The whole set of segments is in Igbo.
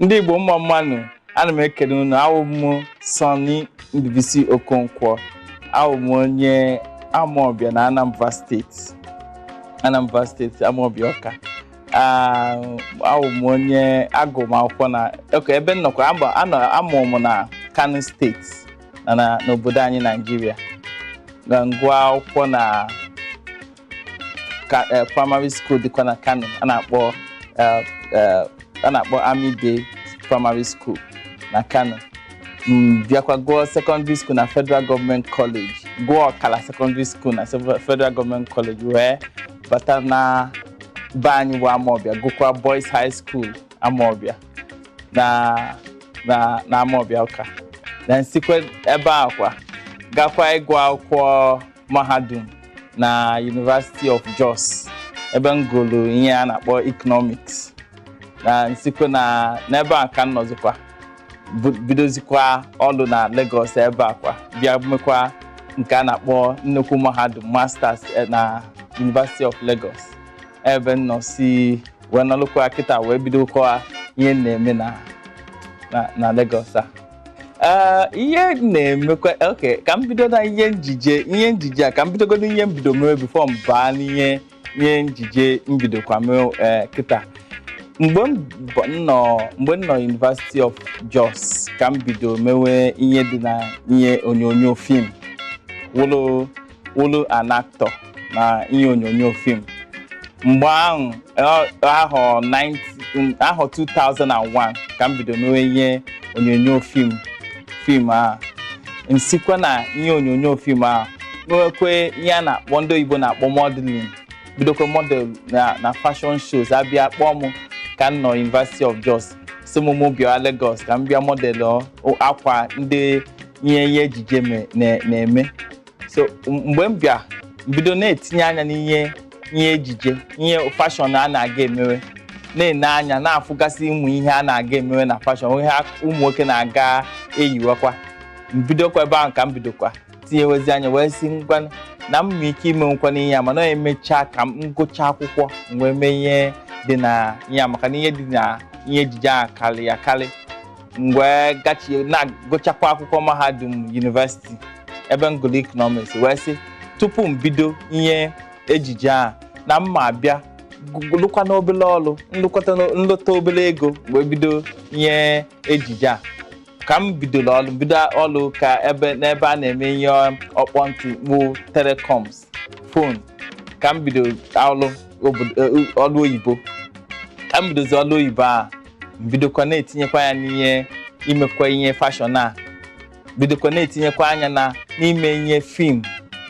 ndị igbo mma mma nụ ana m ekene unu awụ m sunny ndubisi okonkwo awụ m onye amaọbịa na anambra state anambra state amaọbịa ọka awụ m onye agụ m akwụkwọ na ọka ebe m nọkwa a mụ m na kano state na na- n'obodo anyị nigeria na m gụọ akwụkwọ na ka- eh, primary school dịkwa na kano a na-akpọ eh, eh, a na-akpọ army day primary school na kano m bịakwa gụọ secondary school na federal government college gụọ ọkala secondary school na sev- federal government college wee bata na be anyị bụ amaọbịa gụkwa boys high school amaọbịa na na na Amawbịa Ọka na m sikwe ebe a kwa gakwa ịgụ akwụkwọ mahadum na University of Jos ebe m gụlụ ihe a na-akpọ economics na m sikwe na n'ebe a ka m nọzikwa bu- bidozikwa ọlụ na Lagos ebe a kwa bịa mekwa nke a na-akpọ nnukwu mahadum masters eh, na University of Lagos ebe m nọ si wee nọlụkwa kịta wee bidokwa ihe m na-eme na na- na Lagos a Ee, ihe m na-emekwa okay ka m bido na ihe njije ihe njije a ka m bidogodo ihe m bido mewe before m baa n'ihe ihe njije m bidokwa mewe ee, kịta mgbe m bụ- m nọ mgbe m nọ University of Jos ka m bido mewe ihe dị na ihe onyonyo film wụlụ wụlụ an actor na ihe onyonyo film mgbe ahụ ọ- ahọ 90 ahọ 2001 ka m bido mewe ihe onyonyo film film a m sikwa na ihe onyonyo film a nwekwe ihe a na-akpọ ndị oyibo na-akpọ modeling bidokwa model na na fashion shows a bịa kpọọ m ka m nọ University of Jos sị m mụ bịa Lagos ka m bịa model akwa ndị ihe ihe ejije me- na- na-eme so m- mgbe m bịa m bido na-etinye anya n'ihe ihe ejije ihe fashion a na-aga emewe na-ene anya na-afụgasị ụmụ ihe a na-aga emewe na fashion ihe a- ụmụ nwoke na-aga eyiwakwa m bidokwa ebe ahụ ka m bidokwa tinyewezi anya wee sị ngwa na m nwee ike imenwukwa n'ihe a mana emechaa ka m gụchaa akwụkwọ m wee mee ihe dị na ihe a maka na ihe dị na ihe ejije ahụ karị ya karị m wee gachie na-agụchakwa akwụkwọ mahadum university ebe m gụrụ economics wee sị tupu m bido ihe ejije a na m ma abịa gụ- lụkwa n'obele ọrụ nlụkọta n'o- nlụta obele ego wee bido ihe ejije a ka m bidoro ọrụ bido ọrụ ka ebe n'ebe a na-eme ihe ọkpọ ntị bụ telecoms phone ka m bido ọrụ obodo- eh, ọrụ oyibo ka m bidozi ọrụ oyibo a m bidokwa na-etinyekwa ya n'ihe imekwa ihe fashion a bidokwa na-etinyekwa anya na n'ime ihe film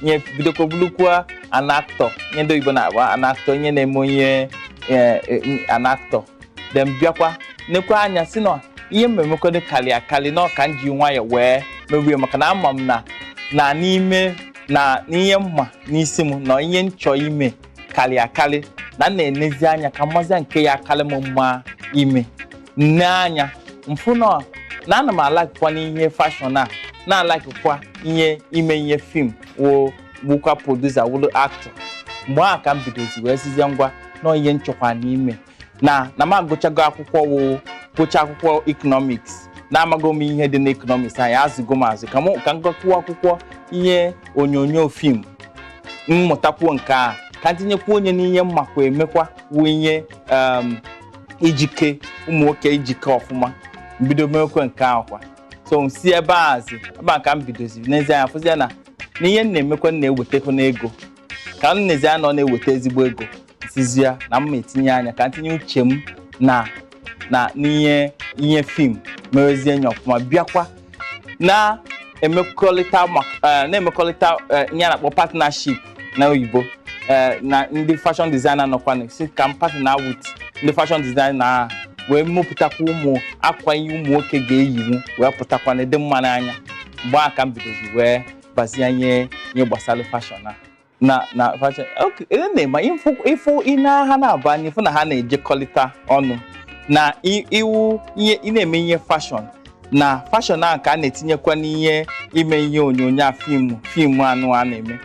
ihe bidokwa bụrụkwa an actor ihe ndị oyibo na-akpọ an actor ihe na-eme onye eh, eh, an actor then bịakwa nekwa anya sị na ihe mmemekọdo karị akarị na ọ ka m ji nwayọ wee mewe maka na ama m na na n'ime na n'ihe m ma n'isi m na ihe m chọ ime karị akarị na m na-enezi anya ka m mazia nke ya-akarị m mma ime m nee anya m fụ na na ana m alikekwa n'ihe fashion a na-alikekwa ihe ime ihe film wụ- wụkwa producer wụrụ actor mgbe ahụ ka m bidozi wee sịzie ngwa na ihe m chọkwa n'ime na na m agụchago akwụkwọ wụ gụcha akwụkwọ economics na amago m ihe dị n'economics anyị azụgo m azụ ka m ka m gụkwuo akwụkwọ ihe onyonyo film m mụtakwuo nke a ka m tinyekwuo anya n'ihe m makwa emekwa wụ ihe um, ijike ụmụ nwoke ijike ọfụma m bido mewekwa nke ahụ kwa so m si ebe a zi ebe a ka m bidozi nezie anya fụzie na na ihe m na-emekwa m na-ewetekwa n'ego ka m nezie na ọ na-eweta ezigbo ego sịzia na m etinye anya ka m tinye uche m na na n'ihe ihe film mewezie nya ọfụma bịakwa na-emekọrịta maka- eh, na-emekọrịta eh, ihe a na-akpọ partnership na oyibo eh, na ndị fashion designer nọkwa na sị ka m partner with ndị fashion designer ahụ wee mepụtakwa ụmụ akwa ihe ụmụ nwoke ga-eyinwu wee pụtakwa na-adị mma n'anya mgbe ahụ ka m bidozi wee bazia ihe ihe gbasara fashion a na na fashion okay ị na-ema ịfụ ịfụ ị na ha na-abụ anya ị fụ na ha na-ejekọrịta ọnụ na i- iwu ihe ị na-eme ihe fashion na fashion ahụ ka a na-etinyekwa n'ihe ime ihe onyonyo a film film anụwa na-eme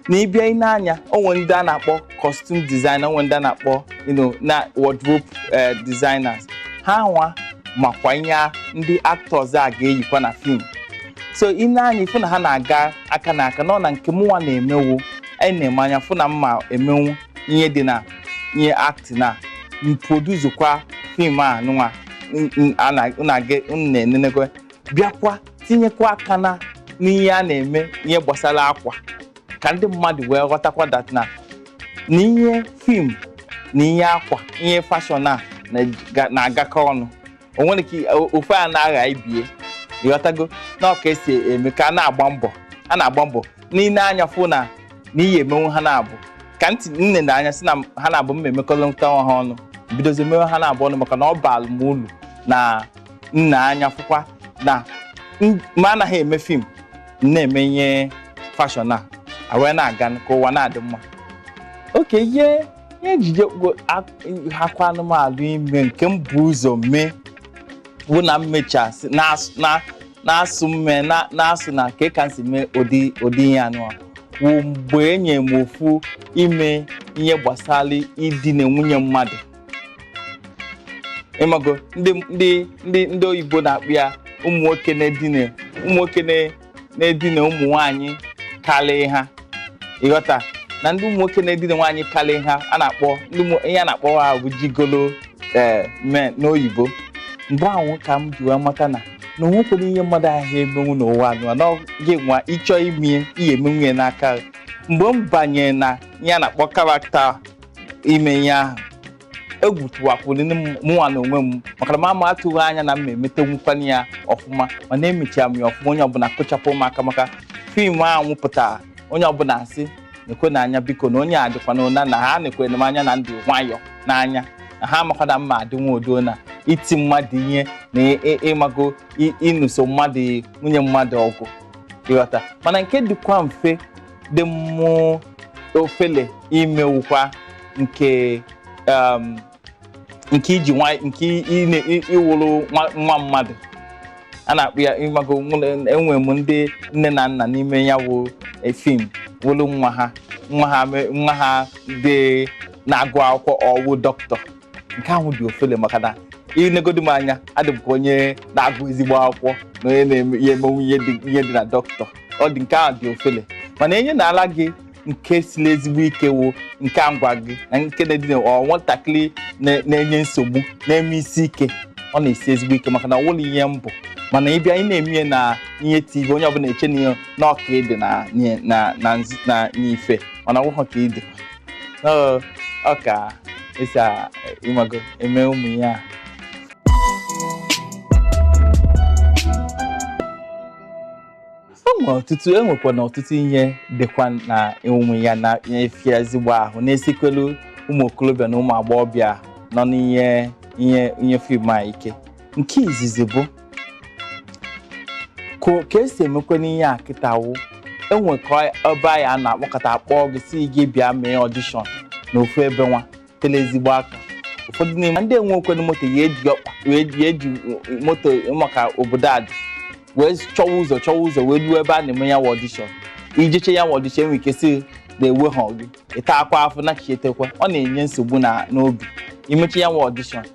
na ị bịa ị nee anya o nwe ndị a na-akpọ costume designer o nwe ndị a na-akpọ you know, na wardrobe eh, designers ha nwa makwa ihe a- ndị actors a ga-eyikwa na film so ị nee anya ị fụ na ha na-aga aka na aka nọ na nke mụnwa na-emewo anyị na-eme anya fụ na m ma emenwu ihe dị na ihe act na m producekwa film a nụnwa n- n- a na- unu aga- unu na-enenekwa bịakwa tinyekwa aka na n'ihe a na-eme ihe gbasara akwa ka ndị mmadụ wee ghọtakwa that na na ihe fim na ihe akwa ihe fashion a na-agakọ ọnụ o nwere ike ofu a na-agha ibie ịghọtago na ọ ka e si eme ka a na-agba mbọ a na-agba mbọ n'ile anya fụ na na ị ya-emenwu ha naabọ ka m tinyere anya sị na ha naabọ m ma-emekọlịta ha ọnụ bidozie mewe ha naabọ ọnụ maka na ọ baalụ m ulu na m ne anya fụkwa na m anaghị eme fim na-eme ihe fashion a a wee na-aga ka ụwa na-adị mma okay ihe ihe ejije gbo- a- hịakwanụ m ahụ ime nke m bu ụzọ mee bụ na m mechaa sị na-asụ- na- na-asụ mme na- na-asụ na kee ka m si mee ụdị ụdị ihe a nụwa wụ mgbe e nye m ofu ime ihe gbasara idina nwunye mmadụ ịmago ndị ndị ndị ndị oyibo na-akpọ ya ụmụ nwoke na-edina ụmụ nwoke na- na-edina ụmụ nwaanyị karịa ha ịghọta na ndị ụmụ nwoke na-edina nwaanyị karịa ha a na-akpọ ndị ụmụ- ihe a na-akpọ ha bụ gigolo ee men n'oyibo mgbe ahụ ka m ji wee mata na na o nwekwere ihe mmadụ aha emenwu n'ụwa a nụwa na ọ gị nwa ị chọọ imie ị ya-emenwu ya maka mgbe m banyere na ihe a na-akpọ character ime ihe ahụ egwu tụwakwuru m mụnwa n'onwe m maka na m m atụghị anya na m emetenwukwana ya ọfụma mana emechara m ya ọfụma onye ọbụla kụchaara m aka maka fim ahụ pụtara onye ọbụla asị nekwenụ anya biko na onye a dịkwa na ụna na ha nekwere m anya na m dị nwayọ n'anya na ha amakwa na m ma-adịnwa udo na iti mmadụ ihe na ị- ị- ịmago ị- ịnụso mmadụ nwunye mmadụ ọgụ ịghọta mana nke dịkwa mfe dị mụ ofele ime wụkwa nke um, nke iji nwa nke ị na- ị- ịwụrụ nwa- nwa mmadụ a na-akpọ ya ịmago nwụrụ- enwe m ndị nne na nna n'ime ya wụ eh, fim wụrụ nwa ha nwa ha me- nwa ha dị na-agụ akwụkwọ ọ wụ dọkịta nke ahụ dị ofele maka na i negodi m anya adị m ka onye na-agụ ezigbo akwụkwọ na onye na-eme ya-emenwu ihe dị ihe dị na dọkịta ọ dị nke ahụ dị ofele mana enye na ala gị nke siri ezigbo ike wụ nke a m gwa gị na nke na-edị na- ọ nwatakịrị na- na-enye nsogbu na-eme isi ike ọ na-esi ezigbo ike maka na ọ wụrọ ihe m bụ mana ị bịa ị na-eme ihe na ihe TV onye ọbụla eche na ihe na ọ ka ị dị na na na nz- na n'ife mana ọ wụghọ ka ị dị Ọ- ọ ka e si a- ịmago eme ụmụ ihe a enwe ọtụtụ enwekwa na ọtụtụ ihe dịkwa n'ime ya na-afịa ezigbo ahụ na-esikwelu ụmụ okorobịa na ụmụ agbọghọbịa nọ n'ihe ihe ihe fim a ike nke izizi bụ ka ka esi emekwa n'ihe a kịta wụ e nwee ka ebe anyị a na-akpọkọta a kpọọ gị sị gị bịa mee ọdishọn na ofu ebe wa tele ezigbo aka ụfọdụ n'ime ndị enwekwanụ moto ya eji ọkpa wee ji eji moto maka obodo a dị wee chọwa ụzọ chọwa ụzọ wee ruo ebe a na-eme ya wa ọdishọn ijechaa ya wa ọdishọn enwe ike sị na eweha gị ịtakwa afụ nachitekwa ọ na-enye nsogbu na n'obi imechaa ya wa ọdishọn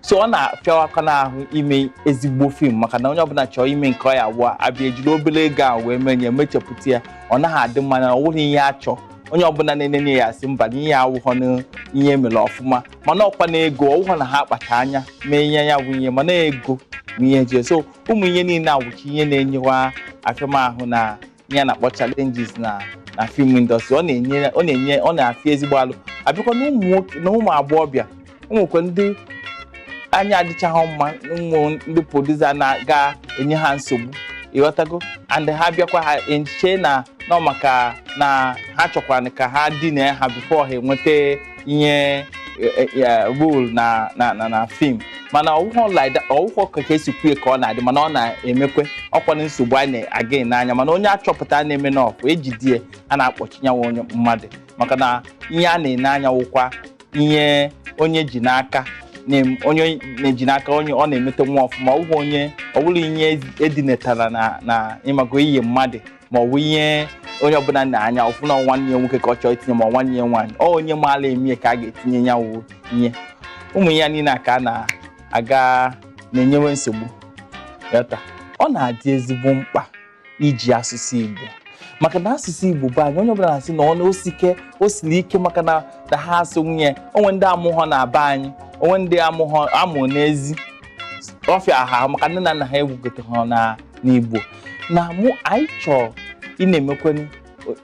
so ọ na-afịawakwanụ ahụ ime ezigbo fim maka na onye ọbụla chọọ ime nke ọ ya wụọ abịa ejiri obere ego a wee mee mechapụta ya ọ naghị adị mma na ọ wụghị ihe a chọọ onye ọbụla na-enenye ya asị mba na ihe awụghọ na ihe e mere ọfụma mana ọkwa na ego ọwụghọ na ha kpacha anya mee ihe ya bụ ihe mana ego bụ ihe ji so ụmụ ihe niile a wụcha ihe na-enye wa afịamahụ na ihe a na-akpọ challenges na na film industry ọ na-enye ọ na-enye ọ na-afịa ezigbo alụ abịakwa na ụmụ nwoke na ụmụ agbọghọbịa o nwekwe ndị anya adịchaghị mma ụmụ ndị produsa na-aga enye ha nsogbu ịghọtago and ha bịakwa ha eche na ọ maka na ha chọkwara ka ha dina ha bifo ha enweta ihe rol na na na na fim mana ọwụhọ like ọwụhọ ka ka esi kwue ka ọ na-adị mana ọ na-emekwe ọkwa na nsogbu a na-aga n'anya mana onye a chọpụta na-eme na ọfụ ejide ya a na-akpọchi ya wa onye mmadụ maka na ihe a na-ene anya wụkwa ihe onye ji n'aka na-em- onye na-eji n'aka onye ọ na-emeta wa ọfụma ọ bụghị onye ọ bụrụ ihe e dinetara na na ịmago iyi mmadụ ma ọ bụ ihe onye ọbụla na-anya ọfụ na nwanne ya nwoke ka ọ chọọ itinye ma nwanne ya nwaanyị ọ onye maala eme ya ka a ga-etinye ya wụ ihe ụmụ ihe niile a ka a na-aga na-enyewe nsogbu ịghọta ọ na-adị ezigbo mkpa iji asụsụ Igbo maka na asụsụ Igbo bụ anyị onye ọbụla na-asị na ọ na osike o siri ike maka na na ha asụ nwunye o nwe ndị amụghọ na be anyị o nwe ndị amụghọ amụ n'ezi ọ fịa ha maka nne na nna ha egwugote ha na n'Igbo na mụ anyị chọrọ ị na-emekwanụ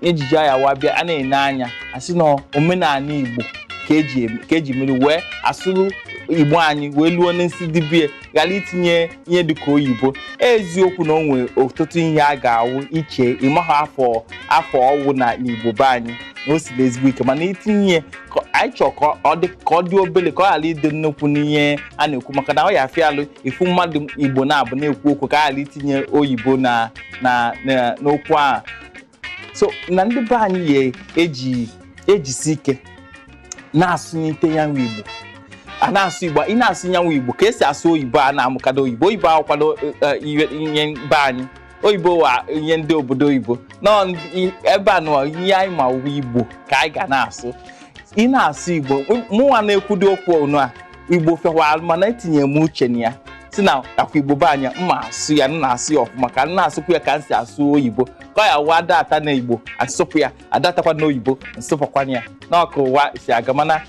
ejije ya wa bịa a na-ene anya asị na omenala igbo ka eji eme- ka eji mere wee asụrụ igbo anyị wee luo n'isi dibie ghara itinye ihe dịka oyibo eziokwu na o nwere ọtụtụ ihe a ga-awụ i chee ịmaghị afa afa ọ wụ na n'igbo be anyị na o siri ezigbo ike mana itinye ihe ka- anyị chọrọ ka ọ dị ka ọ dị obere ka ọ ghara ịdị nnukwu n'ihe a na-ekwu maka na ọ ya-afịa alụ ifu mmadụ igbo na-abụ na-ekwu okwu ka a ghara itinye oyibo na na na- n'okwu ahụ so na ndị be anyị ya eji ejisi ike na-asụnyite ya wa igbo a na-asụ igbo ị na-asụ ya wa igbo ka esi asụ oyibo a na-amụkado oyibo oyibo awụkwadọ ihe be anyị oyibo wụ ihe ndị obodo oyibo nọ ndị- ebe a nọ ihe anyị ma wụ igbo ka anyị ga na-asụ ị na-asụ igbo m- mụnwa na-ekwudo okwu ọnụ a igbo fekwa mana etinye m uche na ya sị na ọkwa igbo be anyị m ma asụ ya m na-asụ ya ọfụma ka m na-asụkwu ya ka m si asụ oyibo ka ọ ya-awụ adata na igbo asụpụ ya adatakwa na oyibo nsụpụkwanụ ya na ọ ka ụwa si aga mana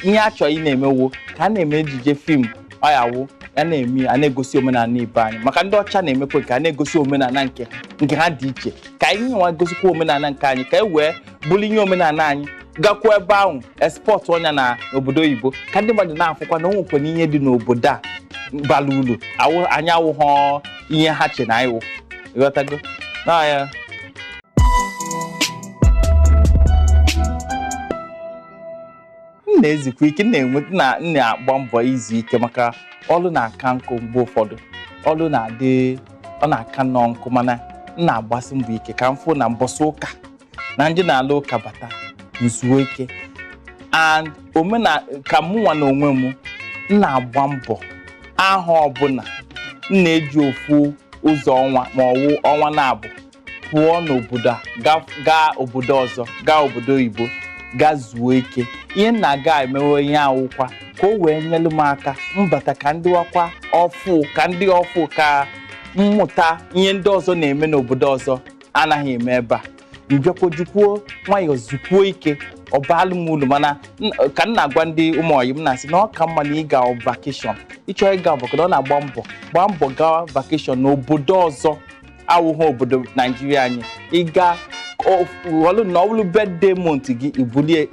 ihe a chọrọ ị na-eme wụ ka a na-eme ejije film ọ ya-awụ a na-eme ya, a na-egosi omenala be anyị maka ndị ọcha na-emekwa ka a na-egosi omenala nke ha nke ha dị iche ka anyị nwa gosikwa omenala nke anyị ka e wee buru ihe omenala anyị gakwuo ebe ahụ exportuo ya na obodo oyibo ka ndị mmadụ na-afụkwa na o nwekwa na ihe dị n'obodo a bara uru awụ- anyị awụghọ ihe ha che na anyị wụ ị ghọtago na ya m na-ezukwa ike m na-enwe na m na-agba mbọ izu ike maka ọlụ na-aka nkụ mgbe ụfọdụ ọlụ na-adị ọ na-aka nnọọ nkụ mana m na-agbasi mbọ ike ka m fụ na mbọsị ụka na ndị na-ala ụka bata m zuo ike and omena ka mụ nwa na onwe m m na-agba mbọ ahọ ọbụla m na-eji ofu ụzọ ọnwa ma ọ wụ ọnwa naabọ pụọ n'obodo a ga- gaa obodo ọzọ gaa obodo oyibo gaa zuo ike ihe m na-aga emewe ihe a wụkwa ka o wee nyelu m aka m bata ka m dịwakwa ọfụụ ka m dị ọfụụ ka m mụta ihe ndị ọzọ na-eme n'obodo ọzọ anaghị eme ebe a m bịakwa jikwuo nwayọọ zukwuo ike ọ baalụ m ulu mana n- ka m na-agwa ndị ụmụ ọyị m na-asị na ọ ka mma na ịga vacation ị chọọ ịga vacation ọ na-agba mbọ gbaa mbọ gawa vacation n'obodo ọzọ awụghị obodo naijiria anyị ịga ọlụ na ọ bụlụ birthday month gị i bulie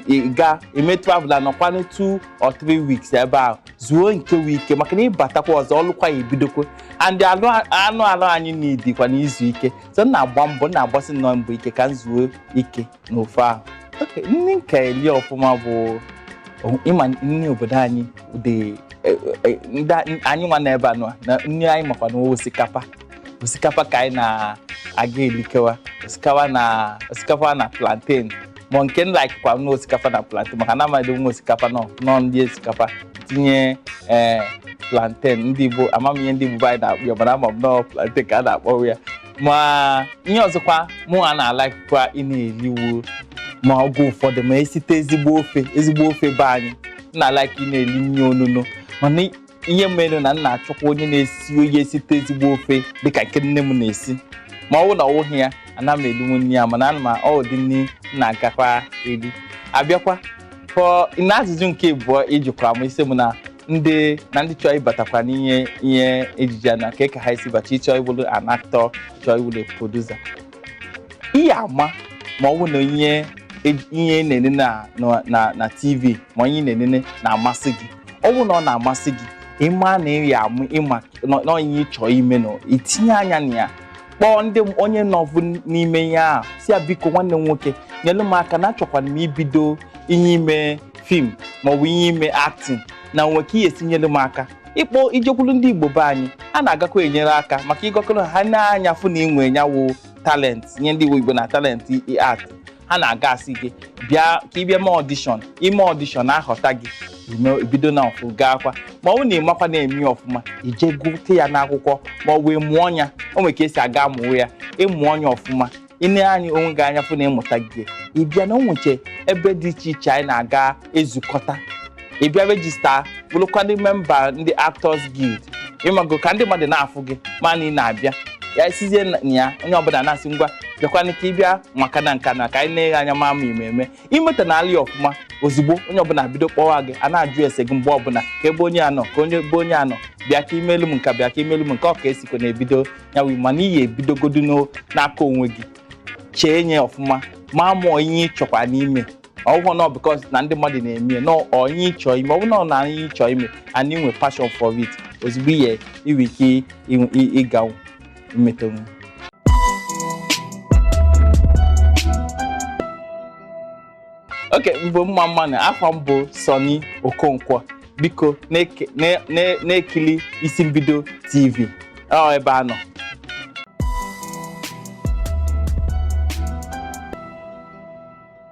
ị ga-eme travel anọkwanụ two or three weeks ebe ahụ zuo nke wụ ike maka na ị batakwa ọzọ ọlụkwa ya-ebidokwa and anụ anụ arụ anyị needikwanụ izu ike so m na-agba mbọ m na-agbasi nnọọ mbọ ike ka m zuo ike n'ofe ahụ oke nri m ka eli ọfụma bụ o- ịma nri obodo anyị dị e- e- ndị a- anyị nwa na ebe a nọ na nri ị makwa na osikapa osikapa ka anyị na-aga elikewa osikapa na osikapa na plantain ma nke m like kwa nwa osikapa na plantain maka na amadị nwa osikapa nọ nọ ndị osikapa tinye ee plantain ndị igbo ama m ihe ndị igbo anyị na-akpọ ya mana ama m na ọ plantain ka a na-akpọwa ya ma ihe ọzọkwa mụ a na-alikekwa ị na-eli wụ ma oge ụfọdụ ma esite ezigbo ofe ezigbo ofe be anyị m na-alike ị na-eli nri onuno mana ihe mere na m na-achọkwa onye na-esi onye esite ezigbo ofe dịka nke nne m na-esi ma ọ bụrụ na ọ wụghị ya ana m elinwu nri ya mana ana m ụdị nri m na-agakwa eri abịakwa pụọ na ajụjụ nke abụọ ị jụkwara m ị sị m na ndị na ndị chọọ ịbatakwa n'ihe ihe ejije a na ka ka ha esi bata ịchọ ịwụlụ an actor chọọ ịwụlụ producer ị ya-ama ma ọ bụ na ihe ej- ihe ị na-enene na- na- na na tv ma ihe ị na-enene na-amasị gị ọ bụ na ọ na-amasị gị ịma na ị ya amụ ịma na- na ọ ihe ị chọọ ime na ị tinye anya na ya kpọọ ndị m- onye nọbụ n'ime ihe ahụ sị ya biko nwanne m nwoke nyelu m aka na achọkwanụ m ibido ihe ime fim maọbụ ihe ime acting na e nwe ka ị ya-esi nyelu m aka ị kpọọ i jekwulu ndị igbo be anyị ha na-agakwa enyere aka maka ị gakwuru ha nee anya fụ na i nwe nya wụ talent nye ndị igbo na talent in art ha na-aga asị gị bịa ka ị bịa mee audition i mee audition a họta gị ime bido na ọfụ gaakwa ma ọ bụ na ị makwa na-eme ya ọfụma i jee gụte ya n'akwụkwọ ma ọ bụ ị mụọ ya o nwere ka esi aga mụọ ya ị mụọ ya ọfụma i nee anya onwe gị anya fụ na ị mụtago ị bịa na o nweche ebe dị iche iche anyị na-aga ezukọta ị bịa register bụrụkwa ndị memba ndị Actors Guild ị mago ka ndị mmadụ na-afụ gị ma na ị na-abịa ya isizie na ya onye ọbụla na-asị ngwa bịakwana ka ị bịa maka na nka na ka anyị na-eghe anya ma ama ememe i meta na alị ọfụma ozugbo onye ọbụla bido kpọwa gị a na-ajụ ese gị mgbe ọbụla kee ebe onye a nọ kee onye ebe onye a nọ bịa ka i melu m nka bịa ka i melu m nka ọ ka e sikwa na-ebido ya wụ mana ị ya-ebidogodu n'o- n'aka onwe gị chee nya ọfụma ma ma ọ wụ ihe ị chọkwanụ ime ọ bụhọ na because na ndị mmadụ na-eme ya, na ọ ihe ị chọ ime ọ bụrụ na ọ na ihe ị chọ ime and i nwee passion for it ozugbo ị ya-enwe ike ịnwe- ị- ị ga-emetanwu okay m bụ mma mma na afa m bụ Sonny Okonkwo biko na-eke- na- na- na-ekili Isi Mbido TV ọ ebe a nọ